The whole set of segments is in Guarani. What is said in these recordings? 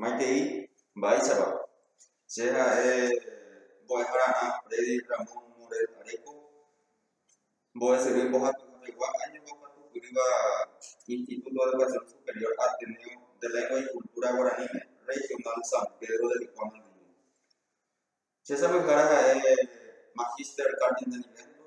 Maitei, mba'éichapa? Che ha'e mbo'ehara'ã Freddy Ramón Morel Areco, mbo'esyry mbohapyhápegua áñova omba'apyhýva Instituto de Educación Superior Ateneo de Lengua y Cultura Guaraníme, Regional San Pedro de Vikuã mandi'u. Che sapyhára ha'e Magister Carmen Daniveldo,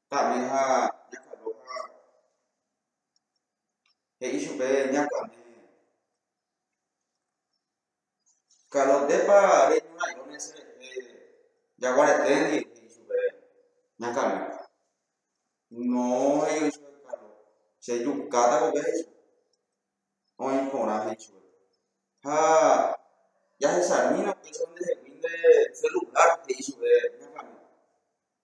Ka'mi ha ñakando ha he'i chupe ñakame, Kalo, ndépa reñorãirõ mese rehe jaguareténdi? he'i chupe ñakame. No, he'i oĩ chupe Kalo, che jukáta kove, he'i chupe. Oĩ porã, he'i chupe. Ha jahechamína upéicha ndehegui nde selular, he'i chupe ñakame.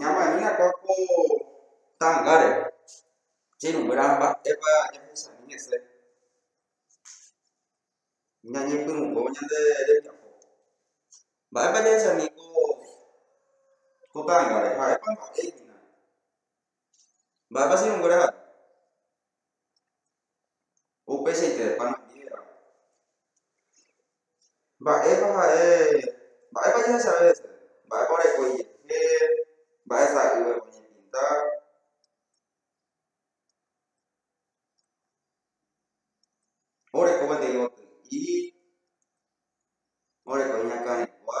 Ñamañápa ko tangare che irũnguéra mba'épa ñahechañi hese ñañepyrũvo ñande rembiapo. Mba'épa jahechañi ko tangare, ha'épa mba'e hína. Mba'épa che irũnguéra ha'e. Upeichaite pan andíveva. Mba'épa ha'e, mba'épa jahechave hese, mba'épa oreko ijehe, mba'e sa'ývema oñepinta. Oreko peteĩ goty'i, oreko iñakãregua.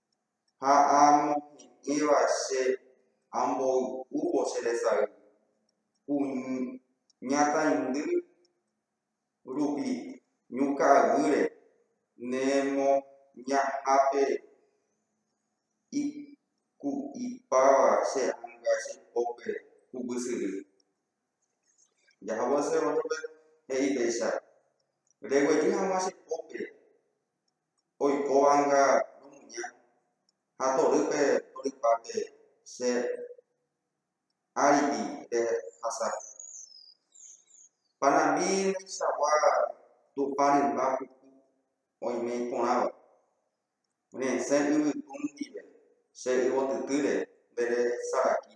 ha amohe'ẽva che amboy'úvo che resay kuñataindy rupi ñu ka'aguýre ne moñahápe iku'ipáva che ánga che pópe huguy syry. Jahávo che rótrope he'i péicha, Reguejy hag̃ua che pópe. oikóvanga romuña ha torýpe torypápe che áripe rehasa. Panambi ndaichagua Tupã rymba puku oime iporãva, resẽ yvytu ndive che yvotytýre nde resaraki.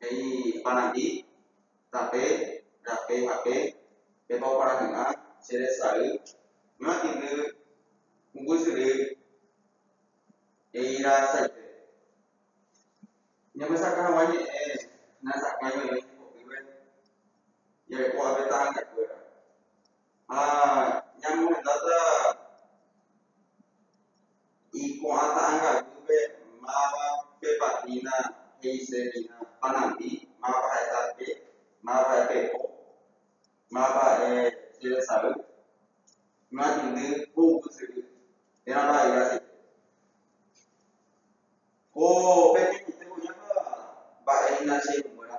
he'i Parangi, Tape, rape ha pe, pépa oparahy'ã che resay ñoatĩndy umbysyry he'irasaite. Ñamesakã hag̃ua ñe'ẽ nahesakãi oĩve hembiguakuéra. Jarekóva pe ta'ãngakuéra. Ha ñamohendáta iko'ãta'angaguýpe máva pepa hína he'ise hína panandi, máva ha'e tape, máva ha'e pepo, máva ha'e jeresay, may'indy ko yvy syry, térã mba'aire aseite. Ko peteĩmante oĩva mba'e hína che irũnguéra.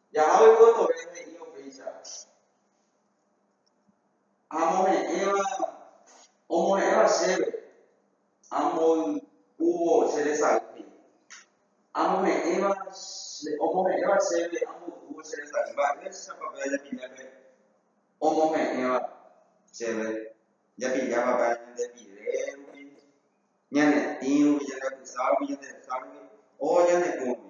Jaha oikotevẽ he'ívo péicha amohe'ẽva omo'ẽva chéve, amboy'úvo che resay he'i. Amohe'ẽva omohe'ẽva chéve amboy'úvo che resay. Mba'éichapa pe ajapilla pe omohe'ẽva chéve? Japillápa pe añande pire rupi, ñanetĩ rupi, ñanepysã rupi, ñanderecha rupi o ñane kũ rupi.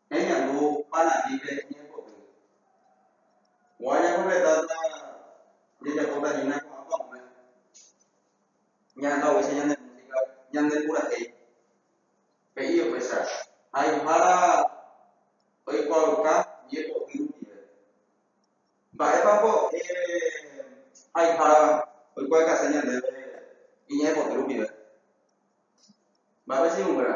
Ñañandu Paran'ípe iñemboty. Ko'ã ñakorretáta jajapótahína ko'ã pa'ũme, ñahasa upéicha ñane músika ñandepurahéi, he'i upéicha haihára oikuaauka ñemboty rupive. Mba'épa mbo'e haihára oikuaaukaséi ñandéve iñemboty rupive? Mba'épa che irũnguéra?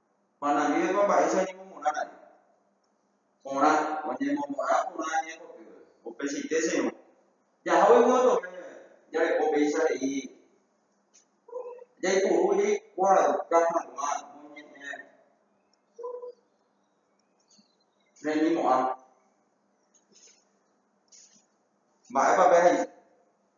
Manahẽvépa mba'éicha oñemomorãre. Porã, oñemomorã porã ñaikotevẽ. Upeichaite Señor. Jahágui moõtove jareko péicha he'i jaipuru jaikuaauka hag̃ua moñe'ẽ reñimo'ã. Mba'épa pehaicha?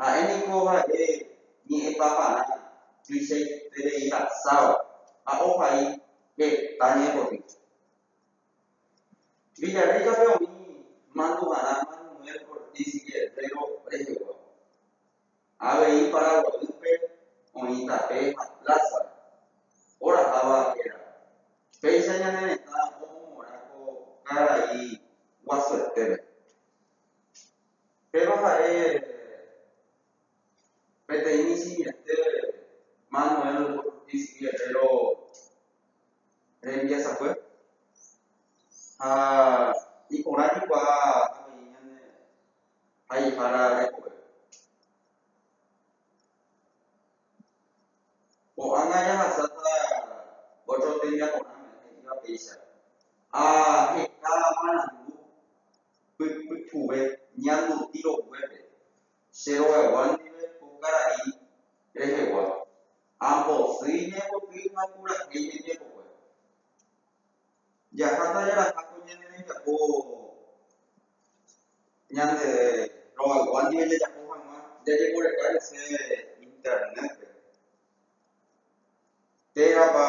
Ha'e niko ha'e ñe'ẽpaparã tuichaitereihasáva ha ohai heta ñepotĩcha. Villarrica-pe oĩ mandu'arã Manuel Ortiz Guerrero reheguáva. Avei Paraguaýpe oĩ tape ha plaza oraháva héra. Péicha ñane retã omomorã ko karai guasuetére. Péva ha'e peteĩ simiente Manuel Ortiz Guerrero rembiasakue ha iporã reikuaa avei ñane haihára rekove. Ko'ág̃a jahasáta ótro tembiaporãme, he'íva péicha, ha heta marandu. pypukuve ñanduti roguépe, che rogaygua ndive ko karai rehegua, ambosýi ñaipotýi ha purahéi ñañepogue. Jaháta jaraha ko ñane rembiapo ñande rogaygua ndive jajapo hag̃ua jajeporeka hese Internet-pe. Térãpa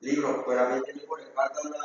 libros-kuérape jajeporekáta la